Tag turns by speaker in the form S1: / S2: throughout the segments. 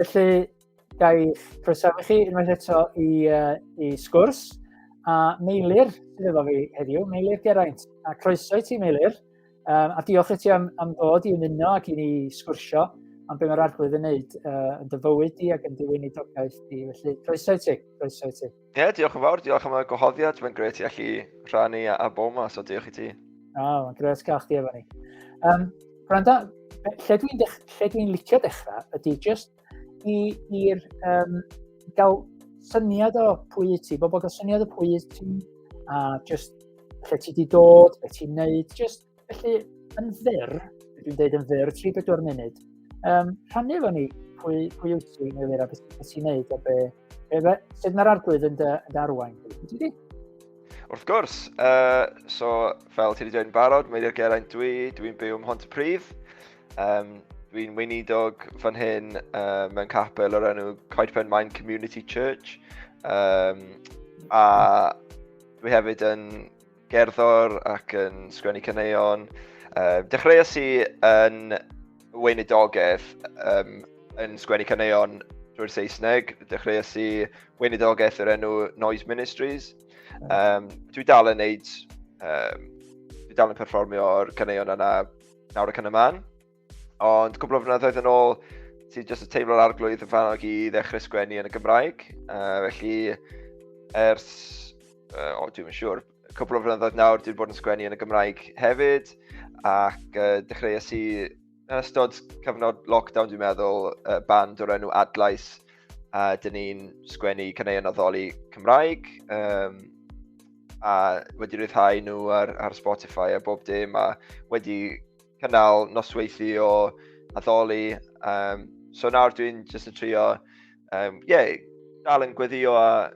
S1: Felly, gaeth croesawu chi unwaith eto i, uh, i sgwrs. A Meilir sydd efo fi heddiw, Meilir Geraint. A croeso i ti, Meilir. Um, a diolch i ti am, am ddod i ymuno ac i ni sgwrsio am beth mae'r arglwydd yn wneud uh, yn dyfywyd di ac yn diwynidogaeth di. Felly, croeso i ti. Croeso i ti. Ie, yeah, diolch
S2: yn fawr, diolch am y gwahoddiad, mae'n gret i allu rhannu a, a bo yma, so diolch i ti. O, oh, mae'n gret gael
S1: chdi efo ni. Um, Branda, lle dwi'n dwi licio dechrau ydy just i'r um, gael syniad o pwy i ti, bobl gael syniad o pwy i ti, a just lle ti di dod, beth ti'n neud, just Felly, yn fyr, dwi'n dweud yn fyr, 3-4 munud, um, rhannu efo ni pwy, pwy wyt ti, neu Elira, beth ti'n neud, a be, be, be, sut mae'r arglwydd yn dy, yn dy arwain. Ti
S2: Wrth gwrs, uh, so fel ti wedi dweud yn barod, Meiri'r Geraint dwi, dwi'n byw ym Mhont y Pryd. Um, dwi'n weinidog fan hyn uh, mewn capel o'r enw Coedpen Main Community Church. Um, a dwi hefyd yn gerddor ac yn sgwennu caneuon. Um, dechreuais i yn weinidogaeth um, yn sgwennu caneuon drwy'r Saesneg. Dechreuais i weinidogaeth yr enw Noise Ministries. Um, dwi dal yn neud, um, dwi dal yn perfformio'r caneuon yna nawr ac yn y man. Ond cwbl o flynyddoedd yn ôl, ti jyst yn teimlo'r arglwydd yn fanog i ddechrau sgwennu yn y Gymraeg. Uh, felly, ers, uh, o, dwi'n siŵr, cwbl o flynyddoedd nawr, dwi'n bod yn sgwennu yn y Gymraeg hefyd, ac uh, dechreuais i yn ystod cyfnod lockdown, dwi'n meddwl, uh, band o'r enw Adlais, a uh, dyn ni'n sgwennu caneuon addoli Cymraeg, um, a wedi rhyddhau nhw ar, ar Spotify a bob dim, a wedi cynnal nosweithu o addoli. Um, so nawr dwi'n jyst yn trio, um, yeah, dal yn gweddio a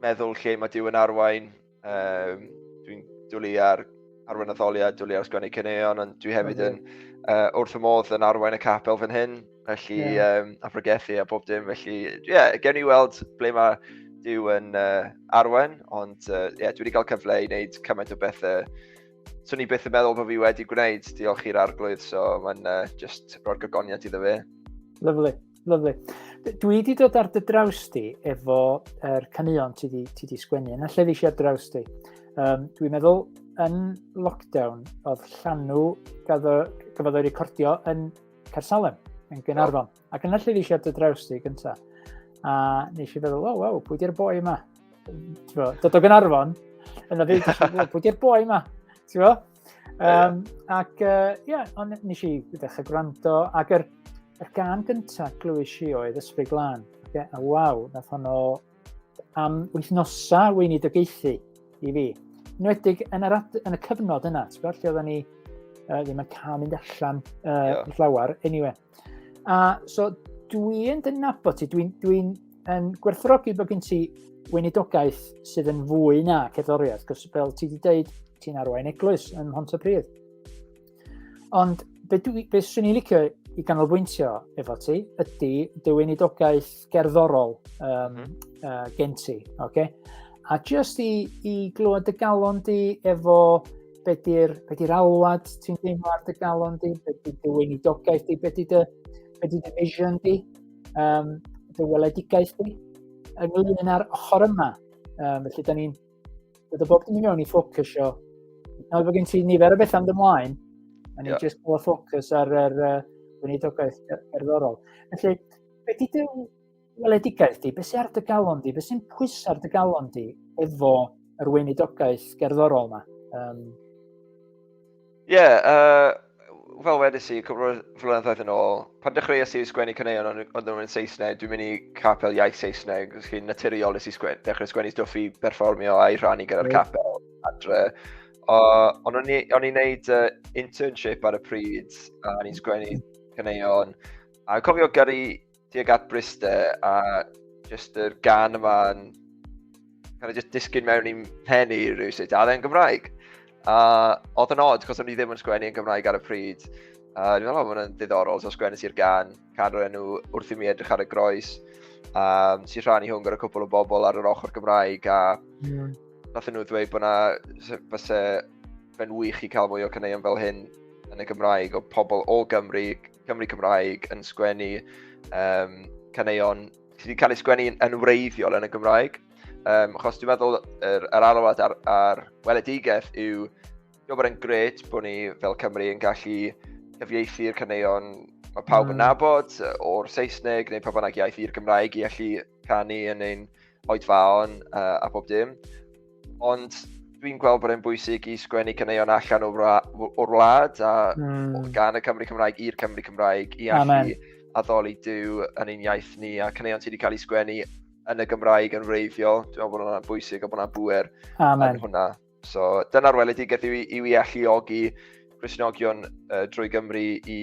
S2: meddwl lle mae Dyw yn arwain. Um, dwi'n dwlu ar arwain addoliad, dwlu ar sgwennu cyneuon, ond dwi hefyd yn uh, wrth y modd yn arwain y capel fan hyn, felly yeah. um, a pregethu a bob dim, felly ie, yeah, gen i weld ble mae Dyw yn uh, arwain, ond uh, yeah, dwi wedi cael cyfle i wneud cymaint o bethau swn i byth yn meddwl bod fi wedi gwneud, diolch i'r arglwydd, so mae'n uh, just roi'r gogoniad iddo fe. Lyflu,
S1: lyflu. Dwi wedi dod ar dy draws di efo er caneuon ti di, ti di sgwennu, yn allai ddysio ar draws di. Um, dwi'n meddwl yn lockdown oedd llanw gafodd o'i recordio yn Cersalem, yn Gynarfon. Oh. Ac yna lle ddillio dy draws ti gynta. A nes i feddwl, wow, wow, pwy di'r boi yma? Dod o Gynarfon, yna fe, pwy di'r boi yma? Ti'n fo? Um, ac, ie, uh, yeah, ond nes i ddechrau gwrando, ac yr, yr gan gyntaf glywys i oedd Ysbryd Glan. Okay? A waw, nath honno am wythnosa weinidogaethu i fi. Nwedig yn, yr, yn y cyfnod yna, ti'n gwybod, lle oedden ni uh, ddim yn cael mynd allan uh, yeah. llawer, anyway. A so dwi'n dynabod ti, dwi'n dwi, yn gwerthrogi bod gen ti weinidogaeth sydd yn fwy na cerddoriaeth, cos fel ti wedi dweud, ti'n arwain eglwys yn Hont y Pryd. Ond be, dwi, be swn i'n licio i ganolbwyntio efo ti ydy dy weinidogaeth gerddorol um, mm. uh, gen ti. Okay? A just i, i glywed dy galon di efo be di'r be di alwad ti'n deimlo ar dy galon di, be di dy weinidogaeth di, be di dy, be di dy vision di, um, dy weledigaeth di, ynglyn â'r ochr yma. Um, felly, da ni'n dod o bob dim i mewn i ffocws o. Nawr bod gen ti nifer o beth am dymlaen, a ni'n yeah. just bod ffocws ar yr uh, weinidogaeth cerddorol. Felly, be di dy weledigaeth di, beth sy'n ar dy galon di, beth sy'n pwys ar dy galon di efo yr weinidogaeth gerddorol yma? Um... Ie,
S2: yeah, uh, fel wedys i, cwbl flynyddoedd yn ôl, pan dechreuais i sgwennu caneuon ond nhw'n nhw'n Saesneg, dwi'n mynd i capel iaith Saesneg, os chi'n naturiol nes i sgwen, dechrau sgwennu stwff i berfformio a'i rannu gyda'r capel adre. Uh, ond o'n i'n gwneud uh, internship ar y pryd, a o'n i'n sgwennu caneuon, a cofio gyrru tuag at Briste a just yr gan yma yn kind of just disgyn mewn i'n pen i rhywsut, a dde'n Gymraeg. A oedd yn odd, cos o'n i ddim yn sgwennu yn Gymraeg ar y pryd. A dwi'n meddwl, mae'n ddiddorol, so sgwennu i'r gan, can o'r enw wrth i mi edrych ar y groes. Um, si rhan i hwn gyda cwpl o bobl ar yr ochr Gymraeg, a yeah. nath nhw ddweud bod na, fyse fe'n wych i cael mwy o caneuon fel hyn yn y Gymraeg, o pobl o Gymru, Cymru Cymraeg yn sgwennu um, caneuon sydd wedi cael ei sgwennu yn wreiddiol yn y Gymraeg. Um, achos dwi'n meddwl yr, yr alwad a'r, ar weledigaeth yw dwi'n bod yn gret bod ni fel Cymru yn gallu cyfieithu'r caneuon mae pawb yn mm. nabod o'r Saesneg neu pa bynnag iaith i'r Gymraeg i allu canu yn ein oedfaon uh, a bob dim. Ond dwi'n gweld bod e'n bwysig i sgwennu caneuon allan o'r, or wlad a mm. gan y Cymru Cymraeg i'r Cymru Cymraeg i allu addoli dyw yn ein iaith ni a caneuon sydd wedi cael ei sgwennu yn y Gymraeg yn wreiddiol. Dwi'n meddwl bod hwnna'n bwysig a bod hwnna'n bwer yn hwnna. So dyna'r weledigaeth yw, yw i alluogi Cresnogion uh, drwy Gymru i,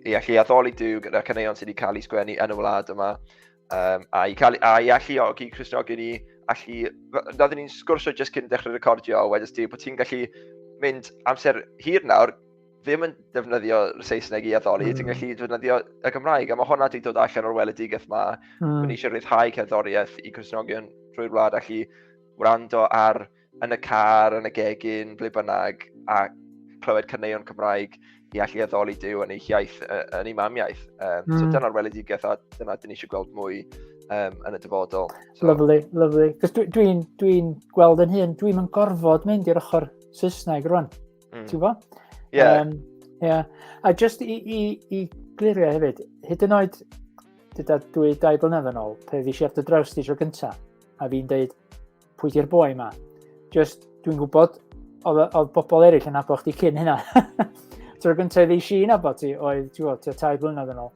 S2: i allu addoli Dyw gyda'r caneuon sydd wedi cael eu sgwennu yn y wlad yma. Um, a, i cael, a i alluogi Cresnogion i allu... Roeddwn ni'n sgwrsio jyst cyn dechrau recordio, wedys ti bod ti'n gallu mynd amser hir nawr ddim yn defnyddio Saesneg i addoli, mm. ti'n gallu defnyddio y Gymraeg, a mae hwnna wedi dod allan o'r weledigaeth yma. Mm. Mae ni eisiau rhyddhau cerddoriaeth i Cresnogion drwy'r wlad allu wrando ar yn y car, yn y gegin, ble bynnag, a clywed cyneuon Cymraeg i allu addoli Dyw yn ei hiaith, yn ei mamiaeth. Um, mm. So hmm. dyna'r weledigaeth a dyna dyn ni eisiau gweld mwy um, yn y dyfodol. So. Lovely, lovely. Cos
S1: dwi'n dwi, dwi gweld yn hyn, dwi'n yn gorfod mynd i'r ochr Saesneg rwan. Mm. Ti'n gwybod? Ie. Yeah. Um, yeah. A just i, i, i glirio hefyd, hyd yn oed, dyda dwi dau blynedd yn ôl, pe fi eisiau ar dy draws ti tro gyntaf, a fi'n dweud, pwy di'r boi yma? Just, dwi'n gwybod, oedd bobl eraill yn nabod chdi cyn hynna. Tro gyntaf ddi si yn nabod ti, oedd, ti'n gwybod, tai blynedd yn ôl.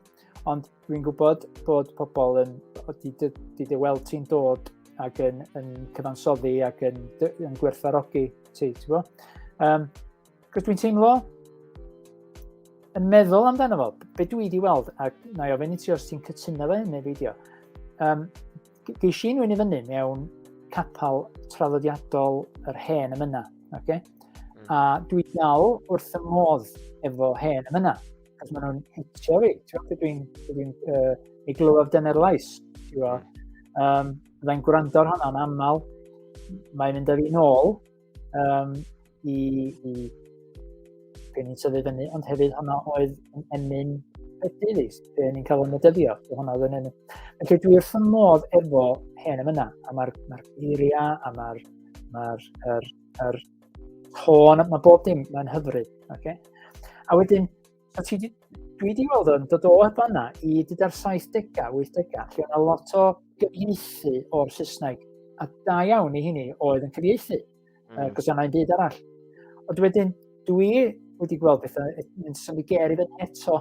S1: Ond dwi'n gwybod bod pobl yn, di, di, di dy weld ti'n dod ac yn, yn cyfansoddi ac yn, yn gwerthfarogi ti, ti'n gwybod? Um, Cos dwi'n teimlo yn meddwl amdano fo, be dwi wedi weld, a na i ofyn i ti os ti'n cytuno fe neu feidio, um, geis i'n wyn i fyny mewn capel traddodiadol yr hen ymyna. Okay? Mm. A dwi dal wrth y modd efo hen ymyna. Cos maen nhw'n hitio fi. Dwi'n dwi uh, ei glywaf dyna'r lais. Um, Fyddai'n gwrando ar hwnna'n aml. Mae'n mynd â fi'n ôl um, i, i gen i'n tyfu fyny, ond hefyd hwnna oedd yn emyn Petidis, be ni'n cael o'n medyddio, be hwnna oedd yn emyn. Felly dwi wrth y modd efo hen am yna, a mae'r ma geiriau, a mae'r ma r, er, er, tôn, mae bob dim, mae'n hyfryd. Okay? A wedyn, So ti di, dwi wedi gweld o'n dod o heb fanna i dyda'r 70au, 80au, lle yna lot o gyfieithu o'r Saesneg, a da iawn i hynny oedd yn cyfieithu, mm. uh, cos yna'n byd arall. Ond wedyn, dwi wedi gweld bethau yn symud ger i fyny eto,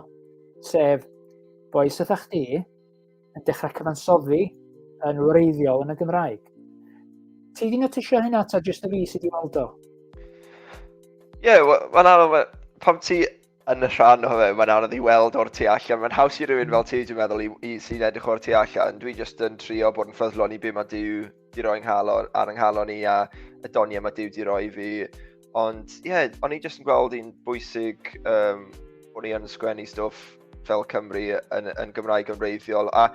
S1: sef boes ydych chdi, yn dechrau cyfansoddi yn wreiddiol yn y Gymraeg. Ti di notisio hynna ta jyst y fi sydd wedi weld o? Ie,
S2: yeah, mae'n anodd, pam ti yn y rhan o fe, mae'n anodd i weld o'r tu allan. Mae'n haws i rywun fel ti, dwi'n meddwl, i, i sy'n edrych o'r tu allan. Dwi jyst yn trio bod yn ffyddlon i bum a dyw di roi nghalon, ar ynghalon i a y doniau mae Dyw di roi fi. Ond ie, yeah, o'n i jyst yn gweld un bwysig um, o'n i yn sgwennu stwff fel Cymru yn, yn Gymraeg yn reiddiol. A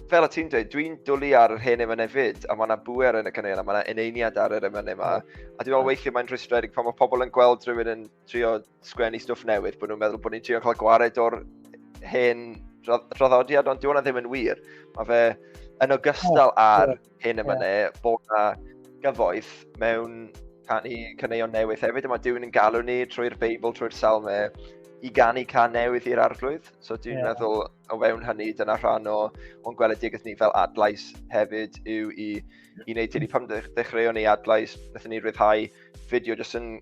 S2: fel y ti'n dweud, dwi'n dwlu ar yr hen emynau fyd, a mae yna bwer yn y canel, a mae yna eneiniad ar yr emynau yma. A dwi'n meddwl weithiau mae'n rhwystredig pan mae pobl yn gweld rhywun yn trio sgwennu stwff newydd, bod nhw'n meddwl bod ni'n trio cael gwared o'r hen draddodiad, ond diwna ddim yn wir. Mae fe yn ogystal oh, ar yeah. hyn y fyny yeah. bod na gyfoeth mewn canu caneuon newydd hefyd, a mae Duw'n yn galw ni trwy'r Beibl, trwy'r Salme, i ganu can newydd i'r arglwydd. So dwi'n yeah. meddwl o fewn hynny, dyna rhan o, o'n gweledigaeth ni fel adlais hefyd yw i, i wneud hynny. Pan ddechreuon ni adlais, wnaethon ni rhyddhau fideo jyst yn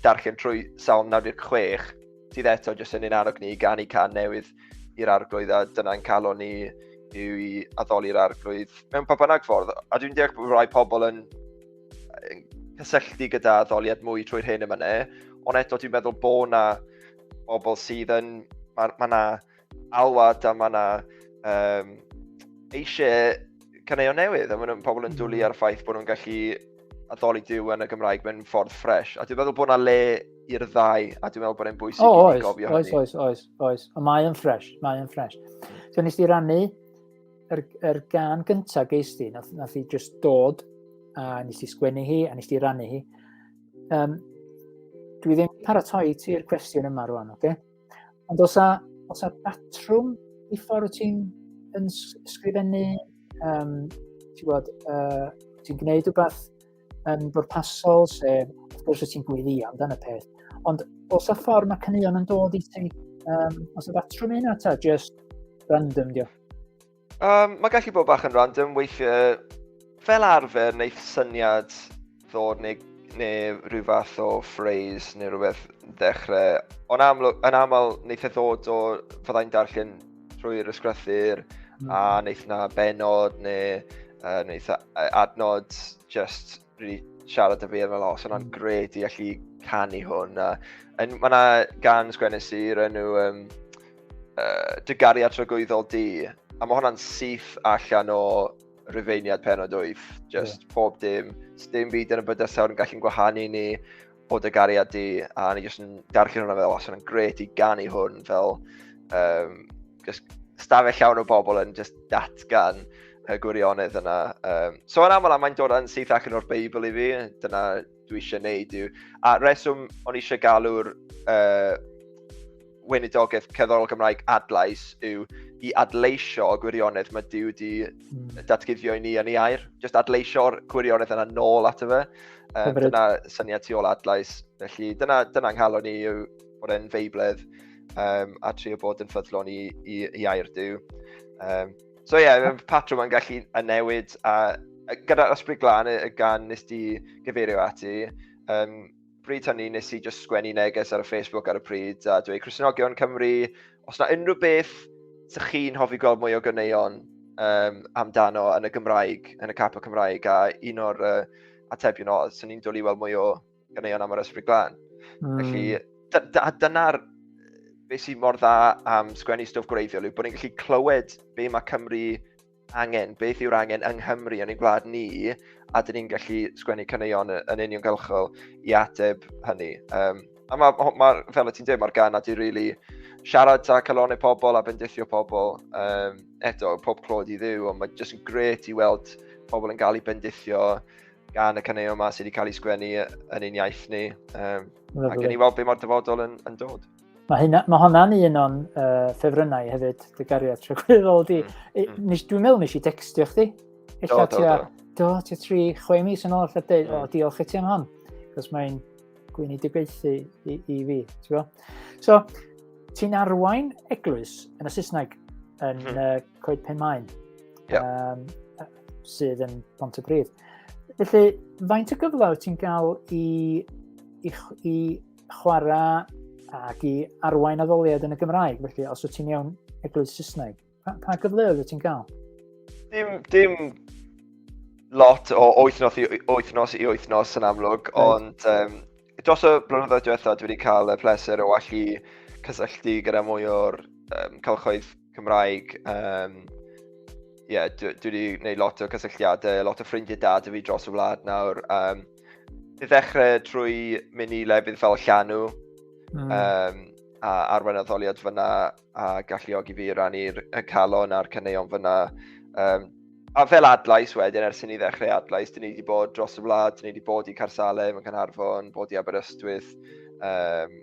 S2: darllen trwy Salm 96, sydd eto jyst yn un arog ni i ganu can newydd i'r arglwydd, a dyna'n calon ni yw i addoli'r arglwydd mewn pa bynnag ffordd. A dwi'n deall bod rhai pobl yn, yn cysylltu gyda addoliad mwy trwy'r hyn yma ne, ond eto dwi'n meddwl bod na bobl sydd yn, mae ma na alwad a mae yna um, eisiau caneuon newydd a mae pobl yn dwlu hmm. ar y ffaith bod nhw'n gallu addoli diw yn y Gymraeg mewn ffordd ffres. A dwi'n meddwl bod yna le i'r ddau, a dwi'n meddwl bod e'n bwysig oh, i ni gofio oes, hynny. Oes, oes, oes, oes. Mae
S1: yn ffres, mae yn ffres. So nes di rannu yr, er, yr er gan gyntaf geis di, nath, nath i just dod, a nes di sgwennu hi, a nes di rannu hi. Um, dwi ddim paratoi ti'r cwestiwn yma rwan, oce? Okay? Ond os a, os a batrwm i ffordd ti'n yn sgrifennu, um, ti'n gwybod, uh, ti'n gwneud rhywbeth yn bwrpasol, sef, wrth gwrs, ti'n gwylio amdano peth. Ond os a ffordd mae cynnion yn dod i ti, um, os a batrwm yna, ta, just random, diolch. Um, mae
S2: gallu bod bach yn random weithiau. Fel arfer, wneud syniad ddod neu, neu rhyw fath o phrase neu rhywbeth ddechrau. Ond amlwg, yn aml, wneud e ddod o fyddai'n darllen trwy'r ysgrythyr mm. a wneud na benod neu uh, wneud adnod just really siarad y feirdd fel os yna'n mm. gred i allu canu hwn. A, yn, mae yna gan sgwennu sir enw um, uh, Dy gariad tragwyddol di, a mae hwnna'n syth allan o rifeiniad penod wyth. Just yeah. pob dim, dim byd yn y bydysawr yn gallu'n gwahanu ni, o dy gariad di, a ni jyst yn darllen hwnna fel, os yna'n gret i ganu hwn fel um, just stafell llawn o bobl yn just datgan y gwirionedd yna. Um, so yn aml, mae'n dod yn syth ac yn o'r Beibl i fi, dyna dwi eisiau neud yw. A reswm o'n eisiau galw'r uh, weinidogaeth cerddorol Gymraeg adlais yw i adleisio o gwirionedd mae Dyw wedi hmm. datguddio i ni yn ei air. Just adleisio o'r gwirionedd yna nôl ato fe. Um, dyna syniad tu ôl adlais. Felly dyna, dyna nghalon ni yw bod e'n feibledd um, a trio bod yn ffyddlon i, i, i air Dyw. Um, so ie, yeah, patrwm yn gallu y newid a gyda'r ysbryd glân y gan nes di gyfeirio ati, um, bryd hynny nes i just sgwennu neges ar y Facebook ar y pryd a dweud Crisnogion Cymru, os na unrhyw beth sy'ch chi'n hoffi gweld mwy o gyneuon um, amdano yn y Gymraeg, yn y capel Cymraeg, a un o'r uh, atebion o, swn i'n dwlu weld mwy o gyneuon am yr ysbryd glân. Mm. Felly, hmm. dyna'r beth sy'n mor dda am sgwennu stwff gwreiddiol yw bod ni'n gallu clywed be mae Cymru angen, beth yw'r angen yng Nghymru yn ein gwlad ni, a dyn ni'n gallu sgwennu caneuon yn uniongyrchol i ateb hynny. Um, a mae, ma, ma, fel y ti'n dweud, mae'r gan a di really siarad ta calonau pobl a bendithio pobl. Um, eto, pob clod i ddiw, ond mae jyst yn gret i weld pobl yn cael ei bendithio gan y caneuon yma sydd wedi cael ei sgwennu yn ein iaith ni. Um, ac yn ei weld be mae'r dyfodol yn, yn dod. Mae, hynna, mae honna'n
S1: un o'n uh, ffefrynnau hefyd, dy gariad tragwyddol di. Mm. mm. Dwi'n meddwl nes i textio chdi. do, do, do. Do, ti tri, chwe mis yn ôl, allan dweud, o, mm. diolch i ti am hon. Cos mae'n gwyn i dibeithi i, i fi, ti'n bo? So, ti'n arwain eglwys yn y Saesneg yn mm. uh, Coed Pen Maen, yeah. um, sydd yn Pont y Bryd. Felly, faint o gyfle wyt ti'n cael i, i, i chwarae ac i arwain addoliad yn y Gymraeg, felly os wyt ti'n iawn eglwys Saesneg, pa, pa gyfleoedd wyt ti'n cael? Dim,
S2: dim lot o wythnos i wythnos i wythnos yn amlwg, right. ond um, dros y blynyddoedd diwetha, dwi wedi cael y pleser o allu cysylltu gyda mwy o'r um, cylchoedd Cymraeg. Um, yeah, dwi, dwi wedi gwneud lot o cysylltiadau, lot o ffrindiau dad y fi dros y wlad nawr. Um, i ddechrau trwy mynd i lefydd fel Llanw, mm. um, a arwain addoliad fyna a galluogi fi rannu'r calon a'r caneuon fyna. Um, a fel adlais wedyn, ers i ni ddechrau adlais, dyn ni wedi bod dros y wlad, dyn ni wedi bod i Carsalem yn Canarfon, bod i Aberystwyth, um,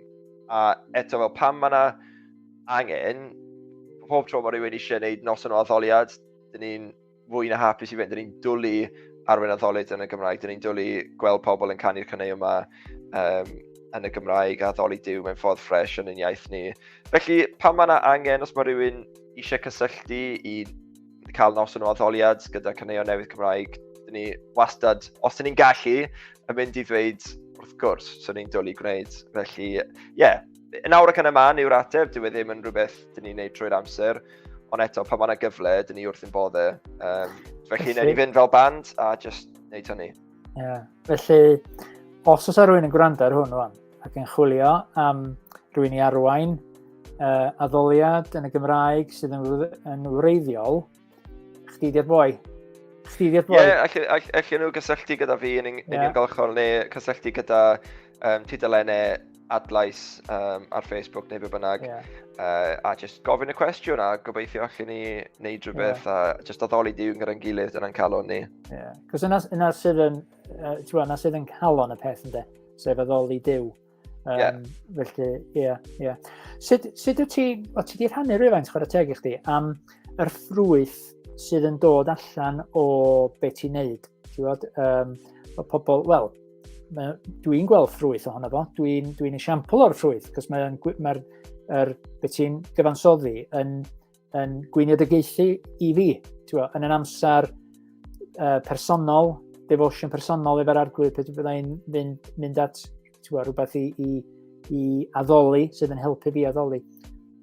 S2: a eto fel pam mae yna angen, pob tro mae rhywun eisiau gwneud noson o addoliad, dyn ni'n fwy na hapus i fynd. Dyn ni'n dwlu ar Wyn Addolyd yn y Gymraeg. Dyn ni'n dwlu gweld pobl yn canu'r cynnau yma um, yn y Gymraeg a ddoli diw mewn ffordd ffres yn ein iaith ni. Felly, pan mae yna angen, os mae rhywun eisiau cysylltu i cael nos yn o addoliad gyda cynnau newydd Cymraeg, dyn ni wastad, os dyn ni'n gallu, yn mynd i ddweud wrth gwrs, so ni'n dwlu gwneud. Felly, ie, yeah, Yn awr ac yn y man yw'r ateb, dyw e ddim yn rhywbeth dyn ni'n neud trwy'r amser, ond eto pan mae'n gyfle, dyn ni wrth yn bodde. Um, felly, neu ni fynd fel band a just neud hynny. Yeah. Felly,
S1: os oes rhywun yn gwrando ar hwn rwan, ac yn chwilio am rhywun i arwain uh, addoliad yn y Gymraeg sydd yn, yn wreiddiol, Chdi di'r boi. Chdi di'r boi. Ie, yeah,
S2: allan nhw gysylltu gyda fi yn uniongyrchol yeah. neu cysylltu gyda um, tudalennau adlais um, ar Facebook neu be bynnag. Yeah. Uh, a just gofyn y cwestiwn a gobeithio allan ni wneud rhywbeth yeah. a just addoli diw'n gyda'n gilydd yna'n calon ni. Ie, yeah. cos yna, yna
S1: sydd yn, uh, yna sydd yn calon y peth ynddo, sef addoli diw. Um, yeah. Felly, ie, yeah, ie. Yeah. Sut, sut wyt ti, o ti di rhannu rhywfaint chwarae teg i chdi am yr ffrwyth sydd yn dod allan o be ti'n neud? Ti'n gwybod, um, o pobl, wel, dwi'n gweld ffrwyth ohono fo, dwi'n dwi, dwi esiampl o'r ffrwyth, cos mae'r mae, mae er, beth ti'n gyfansoddi yn yn gwyniadygaethu i fi, ti'n yn yn amser uh, personol, devotion personol efo'r arglwydd, pe bydda i'n mynd, mynd at ti'n rhywbeth i, i, i addoli, sydd yn helpu fi addoli.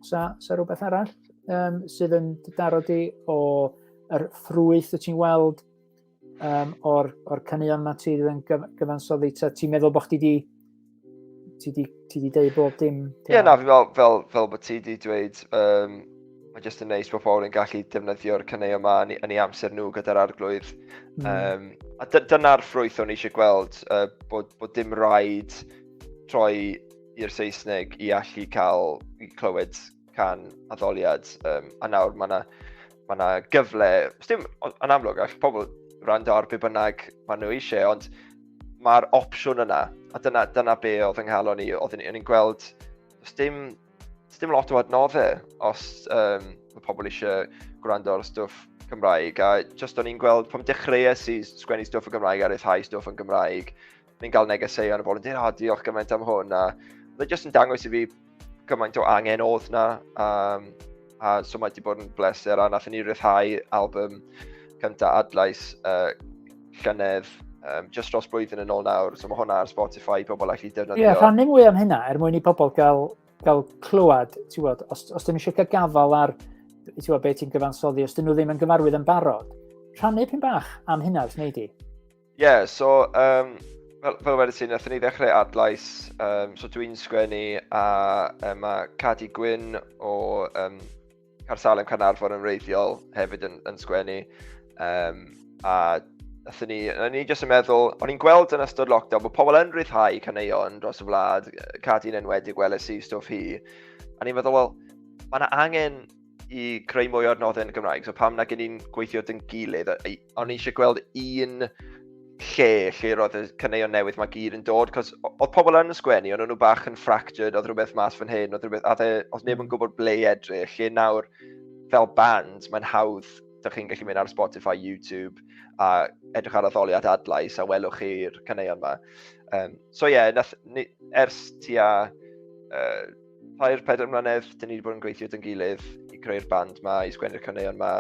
S1: Sa, sa rhywbeth arall um, sydd yn daro di o yr ffrwyth y ti'n weld um, o'r, or caneuon mae ti yn gyfansoddi? Ti'n meddwl bod chdi wedi ti di, ti di deud bob dim? Ie, yeah, na, fi'n meddwl, fel,
S2: fel bod ti di dweud, um, mae jyst yn neis bod pobl yn gallu defnyddio'r cynnau yma yn, yn ei amser nhw gyda'r arglwydd. Mm. Um, a dyna'r ffrwyth o'n eisiau gweld, uh, bod, bod dim rhaid troi i'r Saesneg i allu cael i clywed can addoliad, um, a nawr mae yna ma, na, gyfle, os dim yn amlwg, all pobl rand ar be bynnag maen nhw eisiau, ond mae'r opsiwn yna, a dyna, dyna be oedd yng nghalon ni, oedd ni'n gweld, os dim, os dim lot o adnoddau, os um, mae pobl eisiau gwrando ar stwff Cymraeg, a just o'n i'n gweld, pam dechreuais i sgwennu stwff yn Gymraeg a rhyddhau stwff yn Gymraeg, fi'n cael negeseuon o bobl yn dweud, oh, diolch gymaint am hwn, a fe jyst yn dangos i fi gymaint o angen oedd na, um, a so mae wedi bod yn bleser, a nath ni rhyddhau album cyntaf adlais uh, llynedd, um, just dros blwyddyn yn ôl nawr, so mae hwnna ar Spotify, pobl allu defnyddio. Ie, yeah, rhannu mwy am hynna,
S1: er mwyn i pobl gael, gael clywed, ti'n gwybod, os, os dyn nhw eisiau cael gafal ar, ti'n gwybod, beth ti'n gyfansoddi, os dyn nhw ddim yn gyfarwydd yn barod, rhannu pyn bach am hynna, wrth wneud i. Ie, yeah, so,
S2: um, fel, fel wedi ti, nath ni ddechrau adlais, um, so dwi'n sgwennu a um, mae Cadi Gwyn o um, Carsalem Carnarfon yn reiddiol hefyd yn, yn sgwennu. Um, a nath ni, na ni jyst yn meddwl, o'n i'n gweld yn ystod lockdown bod pobl yn rhyddhau caneuon dros y wlad, Cadi'n enwedig weles i stwff hi. A ni'n meddwl, wel, mae yna angen i creu mwy o'r nodau yn Gymraeg. So pam na gen i'n gweithio dyn gilydd, o'n i eisiau gweld un lle lle roedd y cyneuon newydd mae gyd yn dod, cos oedd pobl yn sgwennu, ond o'n nhw bach yn fractured, oedd rhywbeth mas fan hyn, oedd rhywbeth, oedd, e, oedd neb yn gwybod ble i edrych, lle nawr fel band, mae'n hawdd, dych chi'n gallu mynd ar Spotify, YouTube, a edrych ar addoliad adlais a welwch chi'r cyneuon yma. Um, so ie, yeah, ers tua uh, Tair, pedair mlynedd, dyn ni wedi bod yn gweithio dyn gilydd i creu'r band ma, i sgwennu'r caneuon ma.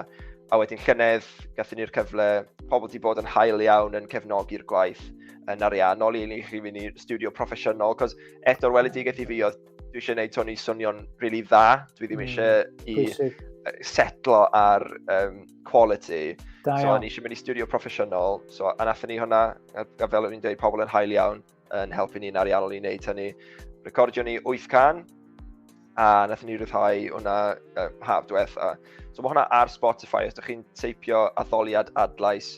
S2: A wedyn llynedd, gathen ni'r cyfle, pobl wedi bod yn hael iawn yn cefnogi'r gwaith yn ariannol i ni chi fynd i'r studio proffesiynol, cos eto'r weledigaeth i fi oedd dwi eisiau gwneud Tony swnio'n rili really dda, dwi ddim hmm, eisiau mm, i setlo ar um, quality. Da so, o'n eisiau mynd i studio proffesiynol, so, a nathon ni hwnna, a, a fel o'n i'n dweud, pobl yn hael iawn. yn helpu ni'n ariannol i wneud hynny. Recordio ni 8 can, a nath ni rhyddhau hwnna uh, haf diwetha. So mae hwnna ar Spotify, os ydych chi'n teipio addoliad adlais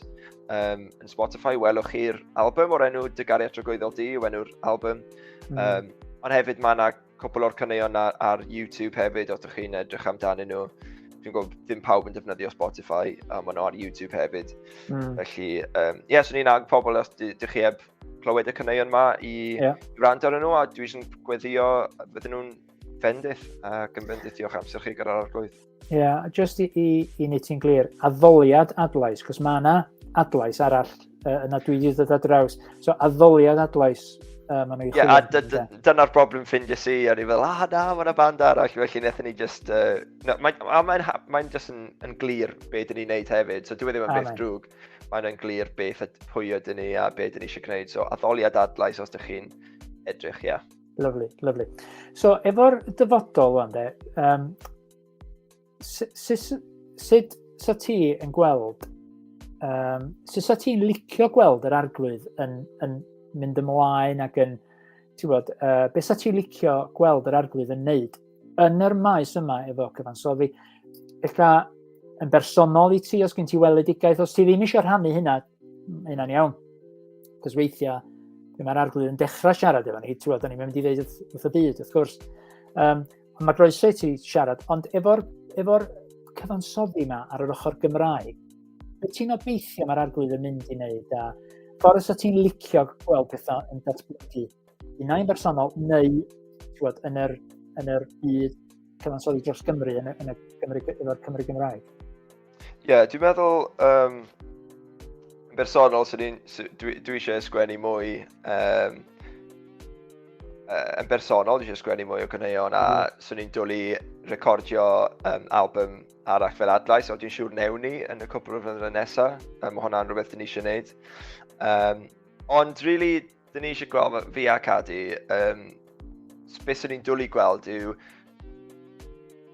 S2: um, yn Spotify, welwch chi'r album o'r enw Dygari at Rogoeddol Di, yw enw'r album. Mm. Um, ond hefyd mae yna cwbl o'r cyneuon ar, ar YouTube hefyd, os ydych chi'n edrych amdanyn nhw. Dwi'n gwybod ddim pawb yn defnyddio Spotify, a maen nhw ar YouTube hefyd. Mm. Felly, ie, um, yeah, swn i'n ag pobl os ydych chi heb clywed y caneuon yma i yeah. rand ar nhw a dwi eisiau gweddio bydden nhw'n fendith ac yn fendith diolch amser chi gyda'r arglwydd. Ie, yeah, just i,
S1: i, i ni ti'n glir, addoliad adlais, cos mae yna adlais arall uh, yna dwi wedi dod â draws. So addoliad adlais uh, maen nhw'n yeah, chwilio. Dyna'r broblem
S2: ffind i si, a ni fel, ah na, mae yna band arall, felly nethon ni just... Uh, no, mae'n mae, mae just yn, yn glir beth dyn ni'n neud hefyd, so dwi e ddim yn beth drwg. mae yna'n glir beth a pwy ydyn ni a beth ydyn ni eisiau gwneud. So, addoliad adlais os ydych chi'n edrych, ia. Yeah. Lovely, lovely.
S1: So, efo'r dyfodol wan de, um, sut sa ti yn gweld, um, sut sa ti'n licio gweld yr arglwydd yn, yn mynd ymlaen ac yn, ti'n bod, uh, beth sa ti'n licio gweld yr arglwydd yn neud yn yr maes yma efo cyfansoddi, eitha yn bersonol i ti, os gen ti weledigaeth, os ti ddim eisiau rhannu hynna, mae hynna'n iawn. Cos weithiau, lle mae'r arglwydd yn dechrau siarad efo ni, ti'n da ni'n mynd i ddeud wrth y byd, wrth gwrs. Um, ond mae groeso i ti siarad, ond efo'r efo cyfansoddi yma ar yr ochr Gymraeg, be ti'n obeithio mae'r arglwydd yn mynd i wneud a ffordd os ti'n licio gweld pethau yn datblygu unai'n bersonol neu bod, yn yr, yn yr byd cyfansoddi dros Gymru yn y, yn y Gymru, efo'r Cymru Gymraeg? Ie,
S2: yeah, dwi'n meddwl um, yn bersonol sy'n un, sy, dwi, dwi eisiau sgwennu mwy um, yn bersonol, dwi eisiau sgwennu mwy o gyneuon a mm. sy'n ni'n dwlu recordio um, album arall fel adlais, ond dwi'n siŵr newn ni yn y cwpl o flynyddoedd nesaf, um, mae hwnna'n rhywbeth dyn ni eisiau gwneud. Um, ond really, Dyn ni eisiau gweld fi a Cadi, um, beth sy'n ni'n dwlu gweld yw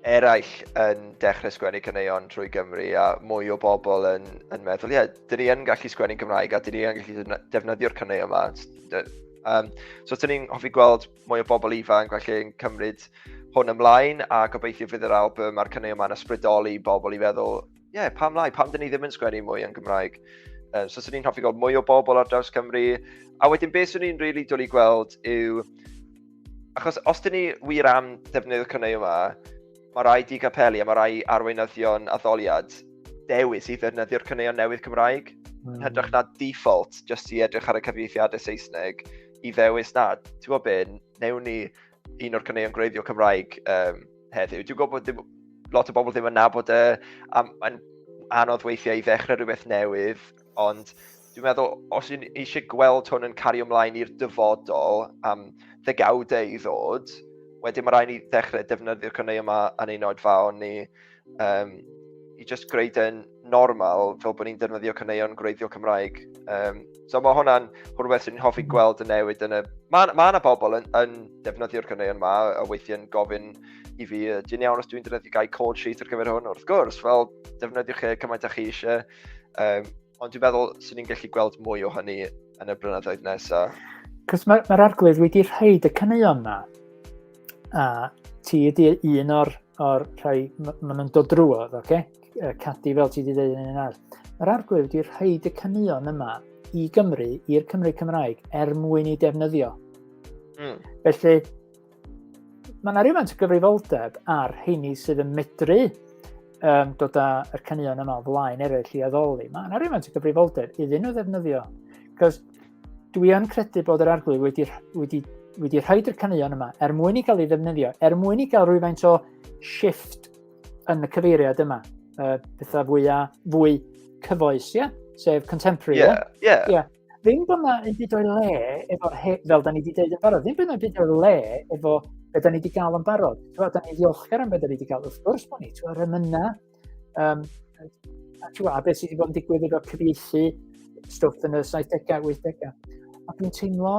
S2: eraill yn dechrau sgwennu caneuon trwy Gymru a mwy o bobl yn, yn meddwl, ie, yeah, dyn ni yn gallu sgwennu Cymraeg a dyn ni yn gallu defnyddio'r caneuon yma. Um, so, dyn ni'n hoffi gweld mwy o bobl ifanc, felly yn cymryd hwn ymlaen a gobeithio fydd yr album a'r caneuon yma'n ysbrydoli bobl i feddwl ie, yeah, pam lai, pam dyn ni ddim yn sgwennu mwy yn Gymraeg? Um, so, swn i'n hoffi gweld mwy o bobl ar draws Cymru. A wedyn, beth swn i'n rili really dwlu gweld yw... Achos os dyn ni wir am defnyddio'r cynnau yma, mae rai di capelu a mae rai arweinyddion addoliad dewis i ddefnyddio'r cynneuon newydd Cymraeg. Mm. Yn hytrach na default, jyst i edrych ar y cyfieithiadau Saesneg, i ddewis na, ti'n gwybod beth, newn ni un o'r cynneuon gwreiddio Cymraeg um, heddiw. Dwi'n gwybod bod lot o bobl ddim yn nabod e, a mae'n anodd weithiau i ddechrau rhywbeth newydd, ond dwi'n meddwl, os yw'n eisiau gweld hwn yn cario ymlaen i'r dyfodol am ddegawdau i ddod, wedyn mae rhaid ni ddechrau defnyddio'r cynnau yma yn ein oedfaon ni um, i just greu dyn normal fel bod ni'n defnyddio caneuon gwreiddiol Cymraeg. Um, so mae hwnna'n rhywbeth sy'n hoffi gweld y newid yn y... Mae yna ma bobl yn, yn defnyddio'r caneuon yma a weithiau'n gofyn i fi, dyn iawn os dwi'n defnyddio gael call sheet ar gyfer hwn, wrth gwrs, fel defnyddiwch chi e cymaint â chi eisiau. Um, ond dwi'n meddwl sy'n ni'n gallu gweld mwy o hynny yn y blynyddoedd nesaf. Cos mae'r ma
S1: arglwydd wedi rhaid y caneuon yma. A ti ydy un o'r o'r rhai maen nhw'n dod drwodd, oce? Okay? Cadi fel ti wedi dweud yn un arall. Yr arglwydd wedi rhaid y caneuon yma i Gymru, i'r Cymru Cymraeg, er mwyn i defnyddio. Mm. Felly, mae yna rhywfaint o gyfrifoldeb ar heini sydd yn medru um, dod â'r caneuon yma o flaen eraill i addoli. Mae yna rhywfaint o gyfrifoldeb iddyn nhw ddefnyddio. Cos Dwi yn credu bod yr arglwydd wedi, wedi, wedi rhaid i'r caneuon yma er mwyn i gael ei ddefnyddio, er mwyn i gael rhywfaint o shift yn y cyfeiriad yma. Uh, pethau fwya, fwy cyfoes, ie? Yeah? Sef contemporary, ie? Yeah, ie. Yeah. Yeah. Ddim bod yna yn byd o'i le efo, fel da ni wedi dweud yn barod, ddim bod yna yn byd o'i le efo be da ni wedi cael yn barod. Twa, da ni ddiolchgar am be da ni wedi cael, wrth gwrs bod ni, twa, remyna, Um, a ti'n gwybod, a beth sydd wedi bod yn digwydd efo'r cyfieithu stwff yn y 70au, 80au. A dwi'n teimlo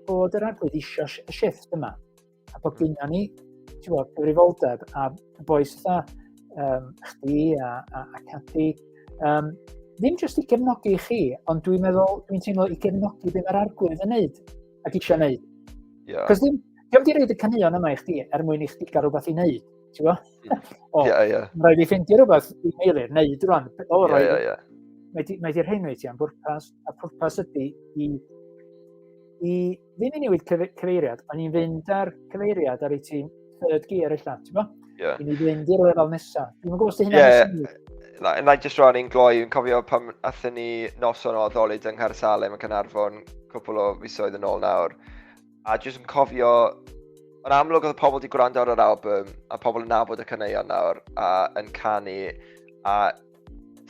S1: bod yr arglwydd eisiau y shift yma. A bod gynna ni, ti'n gwybod, cyfrifoldeb a boes ytha, um, chdi a, a, a Cathy, um, ddim jyst i gefnogi chi, ond dwi'n meddwl, dwi'n teimlo i gefnogi beth mae'r arglwydd yn neud ac eisiau neud. Yeah. Cos ddim, ddim di reid y caneuon yma i chdi er mwyn i chdi gael rhywbeth i neud. Ti'n gwybod? O, yeah, yeah. rhaid i ffeindio rhywbeth i Meilir, neud rwan. O, yeah, yeah, yeah. Mae di'r hyn wyt ti am bwrpas, a pwrpas ydy i, i ddim i newid cyfeiriad, ond i'n fynd ar cyfeiriad ar ei tîm third gear eich allan, ti'n gwybod? Yeah. I ni fynd i'r lefel nesaf. Dwi'n gwybod os di hynny'n yeah. syniad. Na, na i jyst
S2: rhan i'n gloi, yn cofio pan athyn ni noson o addolid yng Nghaer Salem yn Cynarfon cwpl o fisoedd yn ôl nawr. A jyst yn cofio, yn amlwg oedd pobl wedi gwrando ar yr album, a pobl yn nabod y caneuon nawr, a yn canu, a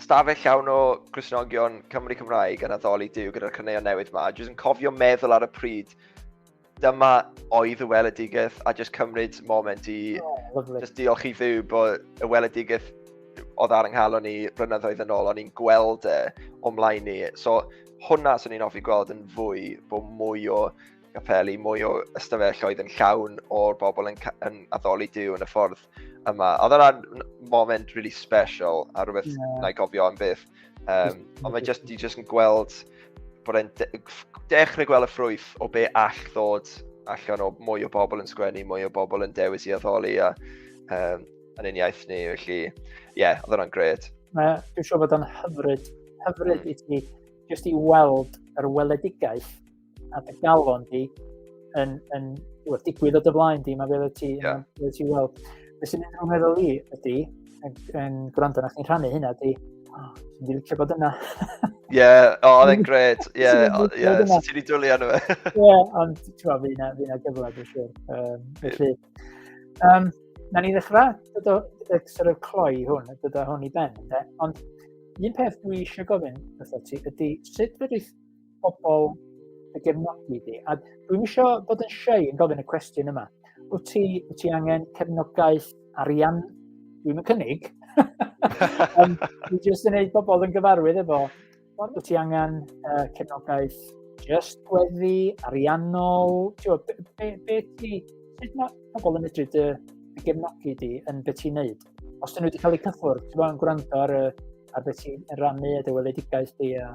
S2: stafell llawn o Gristnogion Cymru Cymraeg yn addoli Dyw gyda'r caneuon newydd yma. Jyst yn cofio meddwl ar y pryd, dyma oedd y weledigaeth a jyst cymryd moment i oh, just diolch i ddiw bod y weledigaeth oedd ar ynghalon ni blynyddoedd yn ôl, o'n i'n gweld e o'm mlaen ni. So, hwnna swn i'n offi gweld yn fwy, bod mwy o gapeli, mwy o ystafelloedd yn llawn o'r bobl yn, yn addoli diw yn y ffordd yma. Oedd yna'n moment really special a rhywbeth yeah. na i gofio am byth. Um, ond mae just, just yn gweld bod e'n de dechrau gweld y ffrwyth o be all ddod allan o mwy o bobl yn sgwennu, mwy o bobl yn dewis i addoli a um, yn un iaith ni, felly, ie, yeah, oedd hwnna'n gret. Dwi'n siŵr bod o'n
S1: hyfryd, hyfryd mm. i ti jyst i weld yr weledigaeth a dy galon di yn, yn wrth digwydd o dy flaen di, mae fel ti, yeah. fel ti weld. Be sy'n mynd o'n meddwl i ydy, yn, yn gwrando na chi'n rhannu hynna, ydy, oh, ti'n licio bod yna. Ie, yeah,
S2: o, oh, e'n gret. Ie, yeah, oh, yeah, so ti'n ei dwlu arno fe. Ie, ond
S1: ti'n meddwl, fi na gyfle, dwi'n siŵr.
S2: Um,
S1: felly, Um, na ni ddechrau, dydo, dydo sort of cloi hwn, dydo hwn i ben, de? ond un peth dwi eisiau gofyn wrtho ti ydy sut fedrith pobl y gefnogi di, a dwi'n eisiau bod yn siau yn gofyn y cwestiwn yma, wyt ti, wyt ti angen cefnogaeth arian? Dwi'n cynnig, um, dwi'n jyst yn gwneud pobl yn gyfarwydd efo Wyt ti angen uh, cefnogaeth just gweddi, ariannol, ti'n gwybod, be, be, be ti, sut mae pobl yn medru dy, dy gefnogi di yn beth ti'n neud? Os dyn nhw wedi cael eu cyffwrdd, ti'n gwybod, yn gwrando ar, ar beth ti'n rannu a dy weledigaeth di a...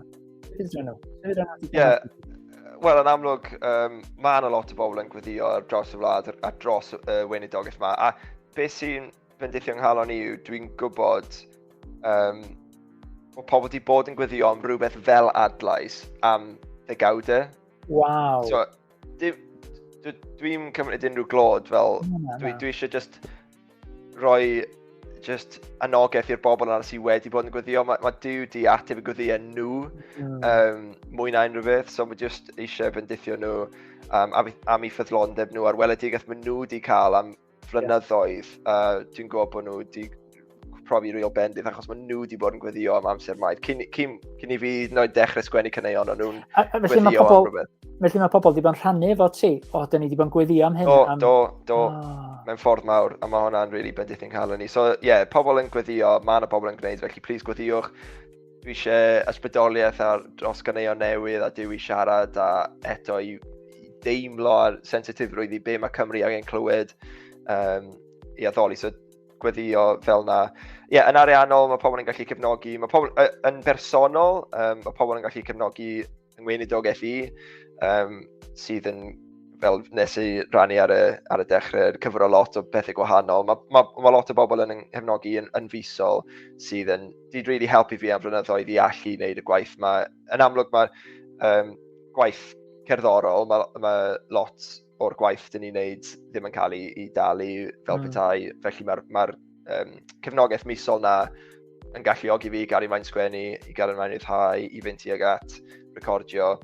S1: Ie,
S2: wel, yn amlwg, um, mae yna lot o bobl yn gweddio ar dros y wlad a dros y uh, weinidogaeth yma. A beth sy'n bendith yng nghalon i yw, dwi'n gwybod um, bod pobl wedi bod yn gweddio am rhywbeth fel adlais am ddegawdau. Waw. So, dwi'n cymryd unrhyw glod fel, dwi, dwi eisiau just rhoi just anogaeth i'r bobl yna sydd wedi bod yn gweddio. Mae, mae Dyw di ateb y gweddio nhw mm. um, mwy na unrhyw beth, so mae just eisiau bendithio nhw um, am, am i ffyddlondeb nhw a'r weledigaeth maen nhw wedi cael am flynyddoedd, a dwi'n gwybod bod nhw wedi profi real bendith, achos maen nhw wedi bod yn gweddio am amser maith. Cyn, cyn, cyn i fi noed dechrau sgwennu cyneuon, o'n nhw'n gweddio am rhywbeth. Felly mae pobl wedi bod yn
S1: rhannu efo ti, o, dyn ni wedi bod yn gweddio am hyn. Do, am... do, do, oh.
S2: mewn ffordd mawr, a mae hwnna'n really bendith yn cael ni. So, ie, yeah, pobl yn gweddio, mae yna pobl yn gwneud, felly please gweddiwch. Dwi eisiau ysbrydoliaeth ar dros ganeuon newydd a dwi siarad a eto i deimlo ar sensitifrwydd i be mae Cymru angen clywed um, i addoli. So gweddio fel na. Ie, yeah, yn ariannol mae pobl yn gallu cefnogi, mae pobl yn bersonol, um, mae pobl yn gallu cefnogi yng Ngweinidog FE, um, sydd yn fel nes i rannu ar y, ar y dechrau, cyfro lot o bethau gwahanol. Mae ma, ma lot o bobl yn nghefnogi yn, yn fusol sydd yn, di really helpu fi am flynyddoedd i allu wneud y gwaith. Mae, yn amlwg mae um, gwaith cerddorol, mae ma lot o'r gwaith dyn ni'n neud ddim yn cael ei, ei dalu fel mm. petai. Felly mae'r ma um, cefnogaeth misol na yn galluogi fi i gael ei maen sgwennu, i gael ei maen rhyddhau, i fynd tuag at recordio.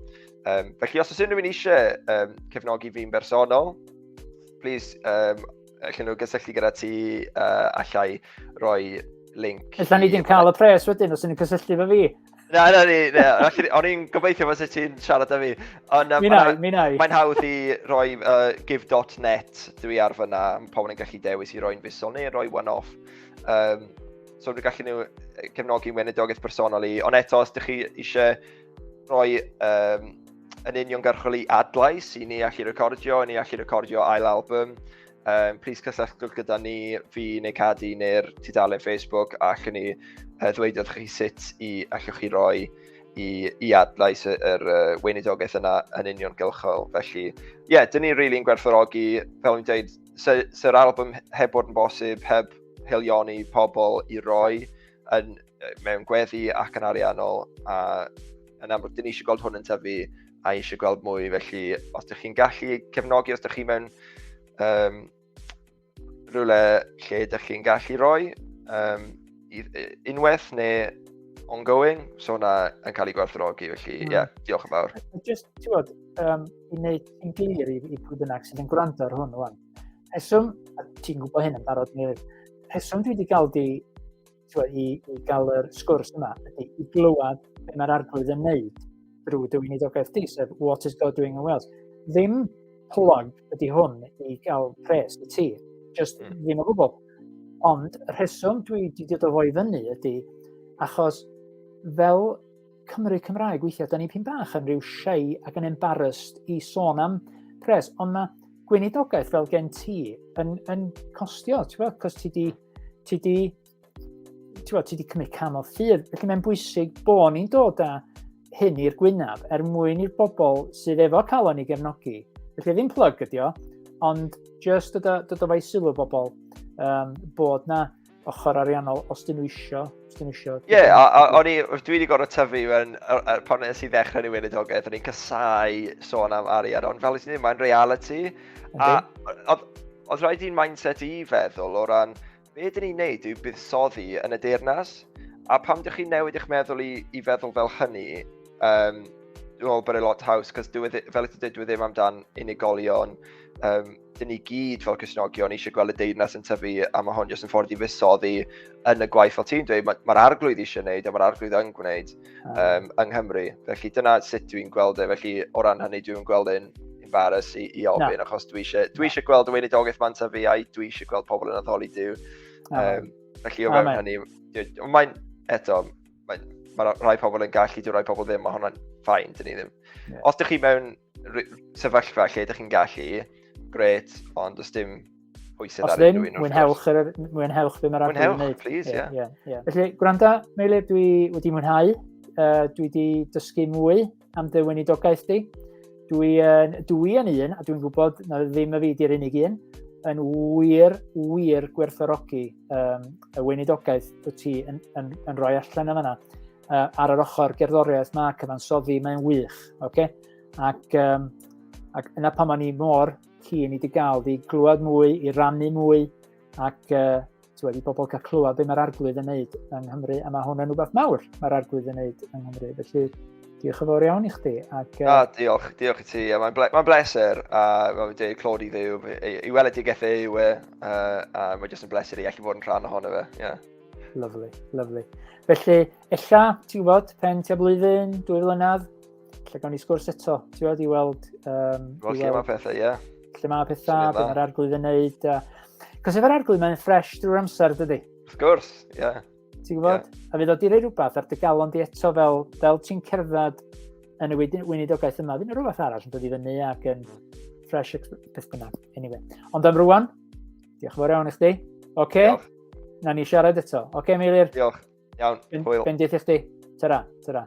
S2: Um, felly os oes unrhyw'n eisiau um, cefnogi fi'n bersonol, please um, Allan nhw gysylltu gyda ti uh, allai roi link. Allan ni ddim cael y
S1: pres wedyn os ydyn nhw'n cysylltu fe fi. Na, na, ni,
S2: na. O'n i'n gobeithio fos ti'n siarad â fi. Ond um, minau, minau. mae'n hawdd i roi uh, give.net dwi ar fyna. Pobl yn gallu dewis i roi'n fusol neu roi one-off. Um, so dwi'n gallu nhw cefnogi weinidogaeth bersonol i. Ond eto, os ydych chi eisiau Roi um, yn union garchol i adlais i ni allu recordio, i ni allu recordio ail album. Um, please cysylltwch gyda ni, fi neu Cadi neu'r tudalen Facebook a chyn ni uh, ddweud wrth chi sut i allwch chi roi i, i adlais yr er, uh, weinidogaeth yna yn union gylchol. Felly, ie, yeah, dyn ni'n rili'n gwerthorogi, fel ni'n dweud, sy'r album heb bod yn bosib, heb helioni pobl i roi, yn, mewn gweddi ac yn ariannol, a yn amlwg, dyn ni eisiau gweld hwn yn tyfu a eisiau gweld mwy, felly os ydych chi'n gallu cefnogi, os ydych chi mewn um, rhywle lle ydych chi'n gallu rhoi um, unwaith neu ongoing, so hwnna yn cael ei gwerthrogi, felly ie, mm. yeah, diolch yn fawr. Just, ti'n bod,
S1: um, i wneud yn glir i, i pwy bynnag sydd yn gwrando ar hwn, wan, rheswm, a ti'n gwybod hyn yn barod ni, rheswm dwi wedi cael di twa, i, i gael yr sgwrs yma ydy i glywed beth mae'r arglwydd yn neud drwy dy weinidogaeth di, sef What is God doing in Wales? Ddim plug ydy hwn i gael pres i ti, just mm. ddim o gwbl. Ond y rheswm dwi wedi dod o fo i fyny ydy achos fel Cymru Cymraeg weithiau, da ni'n pyn bach yn rhyw shy ac yn embarrassed i sôn am pres, ond mae gweinidogaeth fel gen ti yn, yn costio, ti'n gwybod, cos ti di, ti di, ti bod, ti di cymryd cam o ffydd, felly mae'n bwysig bod ni'n dod â hyn i'r gwynaf er mwyn i'r bobl sydd efo calon i gefnogi. Felly ddim plug ydi o, ond just dod o, dod o fai sylw bobl um, bod na ochr ariannol, os dyn nhw isio. Os dyn nhw isio. Ie, yeah, a,
S2: a, o'n i, dwi wedi gorau tyfu mewn, pan nes i ddechrau ni weinidogaeth, o'n i'n casau sôn am arian, ond fel i ti'n mae'n reality. A oedd rhaid i'n mindset i feddwl o ran, be dyn ni'n neud yw buddsoddi yn y deyrnas, a pam dych chi'n newid eich meddwl i, i feddwl fel hynny, um, dwi'n meddwl bod e lot haws, cos e fel ydych chi'n dweud, dwi e ddim amdan unigolion, um, dyn ni gyd fel Cysnogion eisiau gweld y deyrnas yn tyfu a mae hon jyst yn ffordd i fusoddi yn y gwaith fel ti'n dweud, mae'r ma arglwydd eisiau gwneud a mae'r arglwydd yn gwneud um, yng Nghymru. Felly dyna sut dwi'n gweld e, felly o ran hynny dwi'n gweld e'n embarrass i, i ofyn, no. achos dwi eisiau, dwi eisiau gweld y weinidogaeth ma'n tyfu a dwi eisiau gweld pobl yn addoli Dyw. Um, felly o fewn hynny, mae'n eto, mae, mae rhai pobl yn gallu, dwi'n rhai pobl ddim, mae hwnna'n ffain, dyn ni ddim. Yeah. Os ydych chi mewn sefyllfa lle ydych chi'n gallu, gret, ond os dim pwysau ar unrhyw un. Os mwynhewch, er, mwynhewch
S1: be mae'r adeg yn gwneud. please, ie. Yeah. Yeah,
S2: yeah. Felly, gwranda,
S1: Meili, dwi wedi mwynhau. Uh, dwi wedi dysgu mwy am dy weinidogaeth di. Dwi, uh, dwi yn un, a dwi'n gwybod na ddim y fi di'r unig un, yn wir, wir gwerthorogi um, y weinidogaeth wyt ti yn, yn, yn rhoi allan yma. uh, ar yr ochr gerddoriaeth mae cyfansoddi, mae'n wych. Okay? Ac, um, ac yna pan o'n i mor cyn i di gael di glywed mwy, i rannu mwy, ac uh, tywed, i bobl cael clywed be mae'r arglwydd yn neud yng Nghymru, a mae hwn yn rhywbeth mawr mae'r arglwydd yn neud yng Nghymru. Felly, diolch yn fawr iawn i chdi. Ac, uh... ah, diolch,
S2: diolch i ti. Yeah, Mae'n ble ma bleser, a mae'n dweud clod i ddew. I, i weld y digethau yw e, uh, a mae'n jyst yn bleser i allu bod yn rhan ohono fe. Yeah. Lovely,
S1: lovely. Felly, ella, ti'n gwybod, pen tua blwyddyn, dwy flynedd, lle gawn ni sgwrs eto, ti'n gwybod, i weld... Um, Wel, lle mae
S2: pethau, ie. Lle mae pethau,
S1: beth mae'r arglwydd yn neud. Uh, Cos efo'r arglwydd, mae'n ffres drwy'r amser, dydy? Of course, ie.
S2: Yeah. Ti'n gwybod?
S1: Yeah. A fydd o di rei rhywbeth ar dy galon di eto fel, fel ti'n cerdded yn y weinidogaeth yma. Fy'n rhywbeth arall yn dod i fyny ac yn fresh beth bynnag. Anyway. Ond am rwan, Diolch yn fawr iawn i chdi. Oce, okay. Diolch. na ni siarad eto.
S2: Oce, okay,
S1: Meilir. Diolch. Iawn, hwyl. Bendith i chdi.
S2: Tara,
S1: tara.